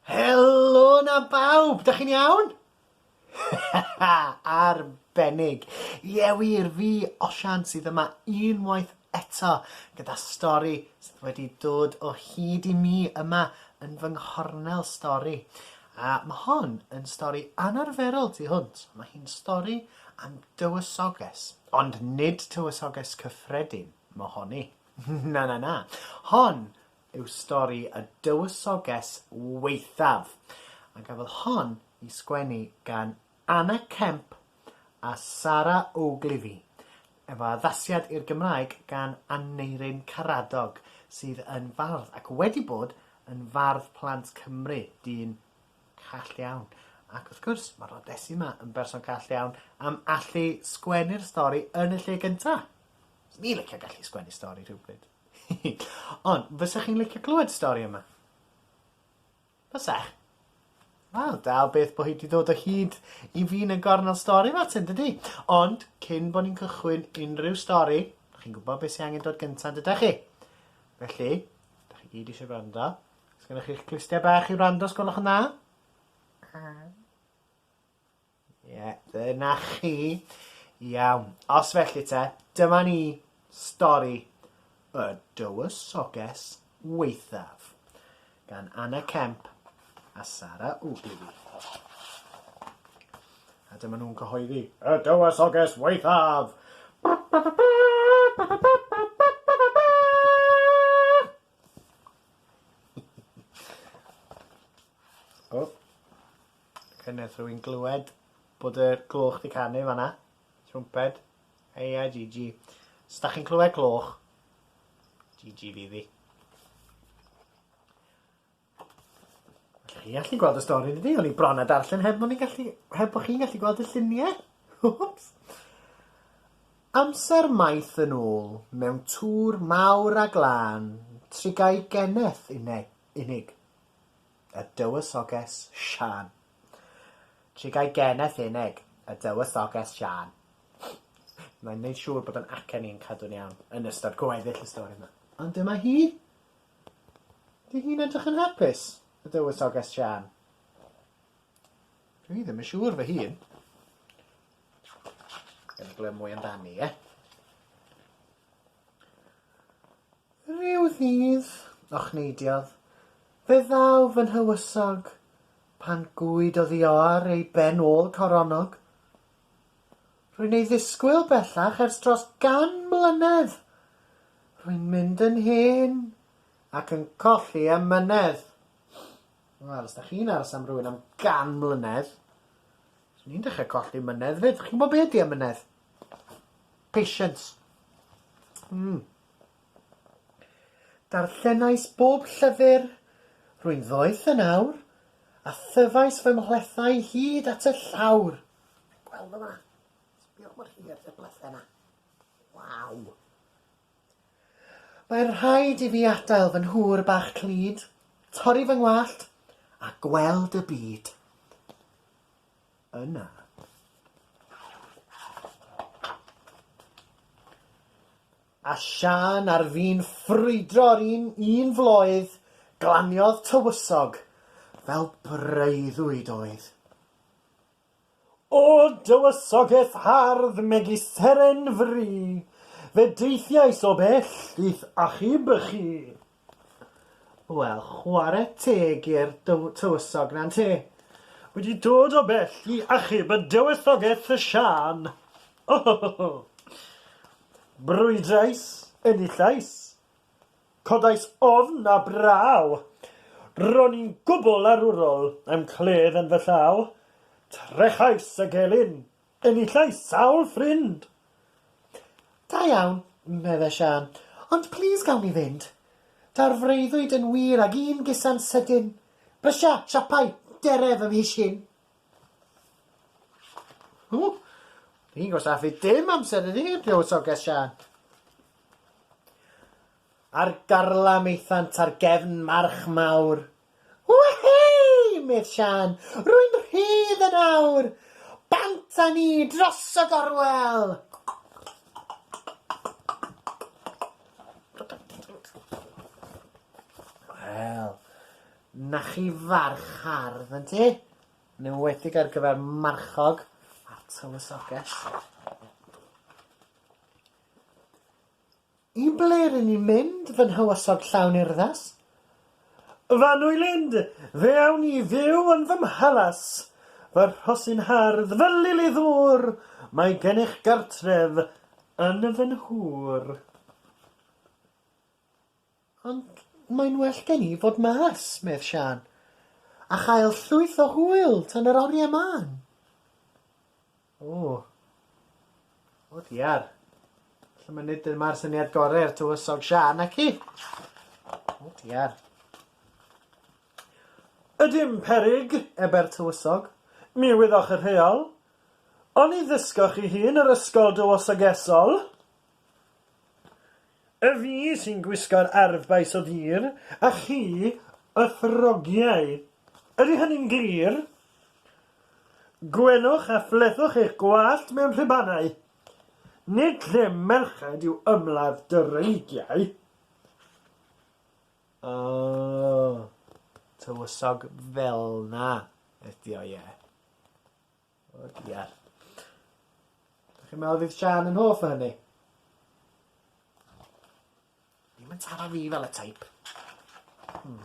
Helo na bawb, da chi'n iawn? Arbennig. Ie wir, fi, Osian, sydd yma unwaith eto gyda stori sydd wedi dod o hyd i mi yma yn fy nghornel stori. A mae hon yn stori anarferol tu hwnt. Mae hi'n stori am dywysoges, ond nid tywysoges cyffredin. Mohoni. Na, na, na. Hon yw stori y dywysoges waethaf, a gafodd hon i sgwennu gan Anna Kemp a Sara Ogilvie, efo addasiad i'r Gymraeg gan Aneurin Karadog, sydd yn fardd ac wedi bod yn fardd plant Cymru, dyn call iawn. Ac wrth gwrs, mae Rodesi 'ma yn berson call iawn am allu sgwennu'r stori yn y lle gyntaf. Fyswn i licio gallu sgwennu stori rhywbryd. Ond, fysech chi'n licio clywed stori yma? Fysech? Wel, da beth bod hi wedi dod o hyd i fi yn y gornel stori fe ti'n dydy? Ond, cyn bod ni'n cychwyn unrhyw stori, chi'n gwybod beth sy'n angen dod gyntaf dydych chi? Felly, da chi gyd eisiau rando. Sgynnych chi'ch clustia bach i rando, sgolwch yn dda? Ie, dyna chi. Iawn. Os felly te, dyma ni stori y dywysoges weithaf gan Anna Kemp a Sara Ogilvy. A dyma nhw'n cyhoeddi y dywysoges weithaf! Oh. Oce neth rhywun glywed bod y gloch di canu fanna? Trwmped? Eia GG. Os da chi'n clywed cloch, GG fi ddi. Felly chi gallu gweld y stori yn dydi? O'n i bron a darllen heb bod ni'n gallu... heb bod chi'n gallu gweld y lluniau. Whoops. Amser maith yn ôl, mewn tŵr mawr a glân, trigai geneth unig. y Dywysoges Siân. Trigai geneth uneg, y Dywysoges Siân. Mae'n neud siŵr bod yn acen i'n cadw'n iawn yn ystod gweddill y stori yma. Ond dyma hi! Ydy hi'n edrych yn hapus, y Dywysoges Siân? Dwi ddim yn siŵr fy hun. Gawn ni glywed mwy amdani, ie? Rhyw ddydd, ochneidiodd, fe ddaw fy nhywysog, pan gŵyd oddioar ei ben ôl coronog. Rwy'n ei ddisgwyl bellach ers dros gan mlynedd, rwy'n mynd yn hen ac yn colli amynedd. Wel, os da chi'n aros am rywun am gan mlynedd, swn i'n dechrau colli mynedd 'fyd. Chi'n gwybod be ydy amynedd? Patience. Mm. Darllenais bob llyfr, rwy'n ddoeth yn awr, a thyfais fy mhlethau hyd at y llawr. Gweld yma. Sbïwch mor hir y blethau yna. Waw. Mae'n rhaid i fi adael fy nhŵr bach clyd, torri fy ngwallt, a gweld y byd. Yna, a siân ar fin ffrwydro'r un un floedd, glaniodd tywysog, fel breuddwyd oedd. O dywysogeth hardd megis seren fri, fe deithiais o bell i'th achub chi. Wel, chware teg i'r dyw- tywysog, na ynte? Wedi dod o bell i achub y dywysogaeth y Siân! Ohohoho! Brwydrais, enillais, codais ofn a braw! Ro'n i'n gwbl arwrol, a'm cledd yn fy llaw. Trechais y gelyn! Enillais sawl ffrind! Da iawn, medde Siân, ond plîs gawn ni fynd. Daw'r freuddwyd yn wir ag un gusan sydyn. Brysia, siapau, dere fy mhis hyn! Ww, ni'n gwastraffu dim amser iddi, dywysoges Siân. Ar garlam aethant ar gefn march mawr, O hei! medd Siân, rwy'n rhydd yn awr! Bant â ni dros y gorwel! Wel, 'na chi farch hardd, yn ti? Yn enwedig ar gyfer marchog a'r tywysoges. I ble ry'n ni'n mynd, fy nhywysog llawn urddas? Fy nwylind, fe awn ni fyw yn fy mhalas. Fy rhosyn hardd, fy lili ddŵr, mae gennych gartref yn fy nhŵr. Ond mae'n well gen i fod mas, medd Siân, a chael llwyth o hwyl tan yr oriau mân. O. O diar. Felly mae nid dyma'r syniad gorau i'r tywysog Siân, ac i? O diar. Ydym perig, ebe'r tywysog. Mi wyddoch y rheol. Oni ddysgoch chi hyn yr ysgol dywysogesol? Y fi sy'n gwisgo'r arf baes o dir, a chi y throgiau. Ydy hynny'n glir? Gwenwch a phlethwch eich gwallt mewn rhubanau. Nid lle merched yw ymladd dreigiau. Oh, tywysog fel'na ydi o, ie. O diar. Dach chi'n meddwl fydd Siân yn hoff o hynny? Ddim yn taro fi fel y teip. Hmm.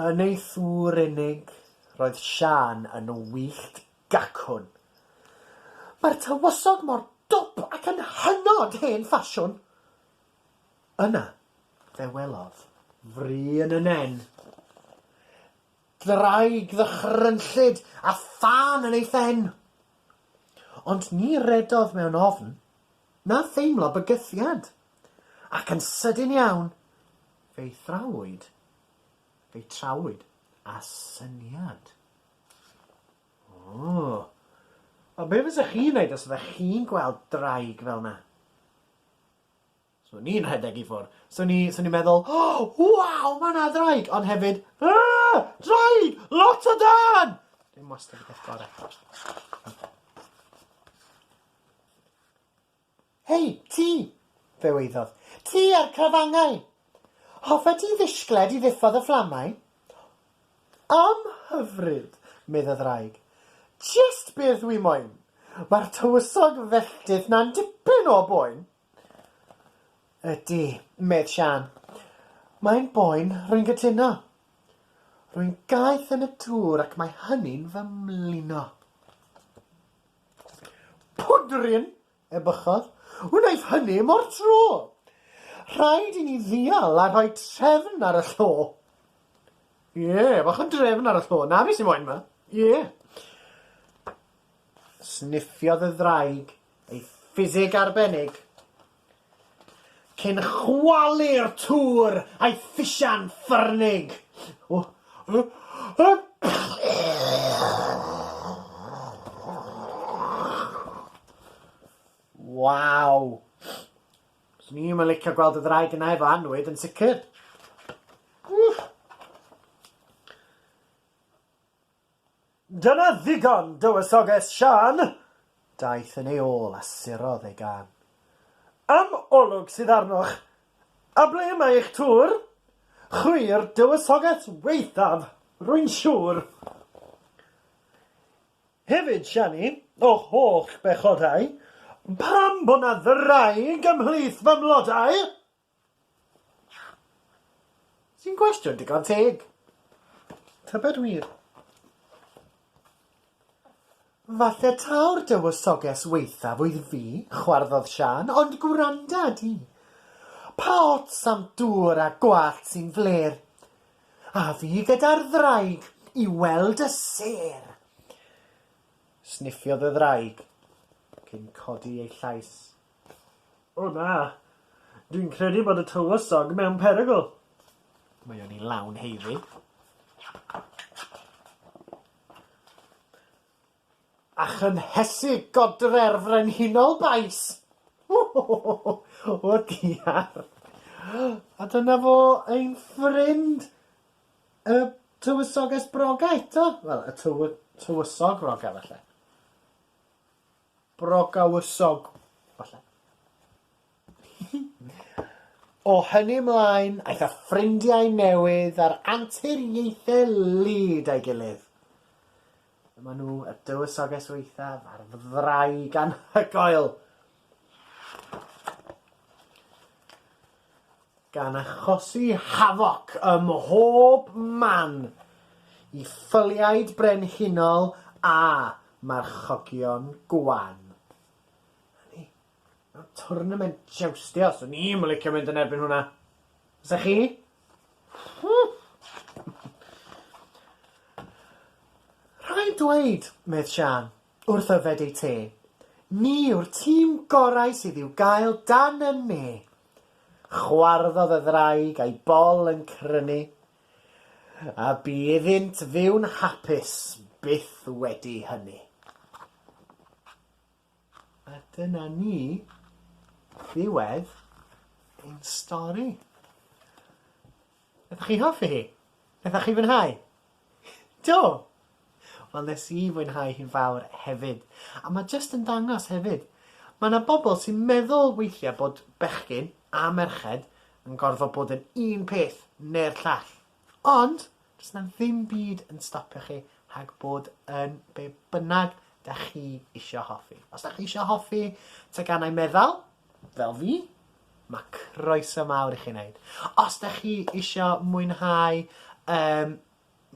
Yn ei thŵr unig, roedd Siân yn wyllt gacwn. Mae'r tywysog mor dwp ac yn hynod hen ffasiwn! Yna, fe welodd. Fri yn y nen. Ddraig ddychrynllyd a thân yn ei phen. Ond ni redodd mewn ofn, na theimlo bygythiad, ac yn sydyn iawn fe'i thrawyd, fe'i trawyd â syniad. O! A be' fysa chi'n neud os fyddech chi'n gweld ddraig fel 'na? Swn i'n rhedeg i ffwr. Swn i, swn i'n meddwl, O! Waw! Ma' 'na ddraig! Ond hefyd, Yrgh! Draig! Lot o dân! Dim wastad y peth gore. Hei, ti! fe weiddodd. Ti a'r crafangau! Hoffet ti ddishgled i ddiffodd y fflamau? Am hyfryd! medd y ddraig. Jest beth dwi moyn! Mae'r tywysog felltith 'na'n dipyn o boen! Ydy, medd Siân. Mae'n boen, rwy'n gytuno. Rwy'n gaeth yn y tŵr ac mae hynny'n fy mlino. Pwdryn! ebychodd. Wnaeth hynny mo'r tro! Rhaid i ni ddial a rhoi trefn ar y llo. Ie, bach o drefn ar y llo. Na fi sy'n moen 'ma. Ie. Sniffiodd y ddraig ei ffisig arbennig. Cyn chwalu'r tŵr a'i phisian ffyrnig. Waw! 'Swn i'm yn licio gweld y ddraig yna efo annwyd yn sicr. Wff! Dyna ddigon, dywysoges Siân! Daeth yn ei ôl a surodd ei gân. Am olwg sydd arnoch! A ble mae eich tŵr? Chwi'r dywysoges waethaf, rwy'n siŵr! Hefyd, Siani, o'ch holl bechodau, pam bod 'na ddraig ymhlith fy mlodau? Sy'n gwestiwn digon teg. Tybed wir? Falle taw'r dywysoges waethaf oedd fi, chwarddodd Siân, ond gwranda di. Pa ots am dŵr a gwallt sy'n flêr? A fi gyda'r ddraig i weld y sêr! Sniffiodd y ddraig cyn codi ei llais. O na! Dwi'n credu bod y Tywysog mewn perygl! Mae o ni lawn heiddi. A chynhesu godre'r Frenhinol Bais! O! O diar! A dyna fo ein ffrind y Tywysoges Broga eto! Wel, y tywy- Tywysog Broga falle. Brogawysog, falle. O hynny mlaen, aeth â ffrindiau newydd a'r anturiaethau lyd a'i gilydd. Dyma nhw, y dywysoges waethaf a'r ddraig anhygoel. gan achosi hafoc ym mhob man i ffyliaid brenhinol a marchogion gwan. Hynny, mewn twrnament joustio, swn i'm yn licio mynd yn erbyn hwnna. Fysa chi? Rhaid dweud, medd Siân, Wrth yfed eu te. Ni yw'r tîm gorau sydd i'w gael dan y ne. Chwarddodd y ddraig a'i bol yn crynu, a bu iddynt fyw'n hapus byth wedi hynny. A dyna ni ddiwedd ein stori. Ydych chi'n hoffi hi? Ydych chi'n fwynhau? Do! Wel nes i fwynhau hi'n fawr hefyd. A mae jyst yn dangos hefyd, mae 'na bobl sy'n meddwl weithiau bod bechgyn a merched yn gorfod bod yn un peth neu'r llall. Ond, does 'na ddim byd yn stopio chi rhag bod yn be bynnag da chi isio hoffi. Os da chi isio hoffi teganau meddal, Fel fi? Ma' croeso mawr i chi neud. Os 'dach chi isio mwynhau yym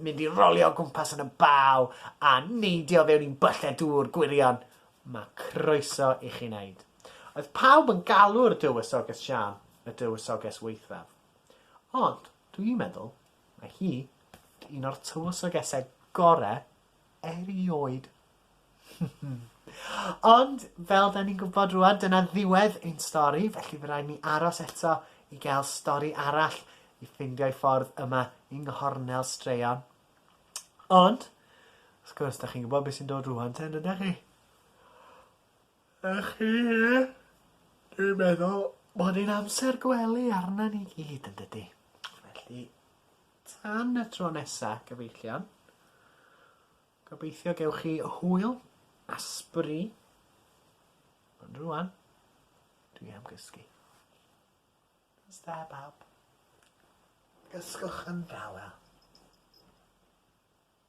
mynd i rolio o gwmpas yn y baw a neidio fewn i'n byllau dŵr gwirion, ma' croeso i chi neud. Oedd pawb yn galw'r Dywysoges Siân y Dywysoges Waethaf. Ond dwi'n meddwl mae hi 'di un o'r tywysogesau gore erioed. Ond, fel da ni'n gwybod rwan, dyna ddiwedd ein stori, felly fe rhaid ni aros eto i gael stori arall i ffindio i ffordd yma yng nghornel straeon. Ond, wrth gwrs, da chi'n gwybod beth sy'n dod rwan ten, ydych chi? Ych chi, ie? Dwi'n meddwl bod e'n amser gwely arna ni gyd yn dydy. Felly, Tan y tro nesa, gyfeillion, gobeithio gewch chi hwyl a sbri. Ond rwan, dwi am gysgu. Os da, bawb. Gysgwch yn dawel.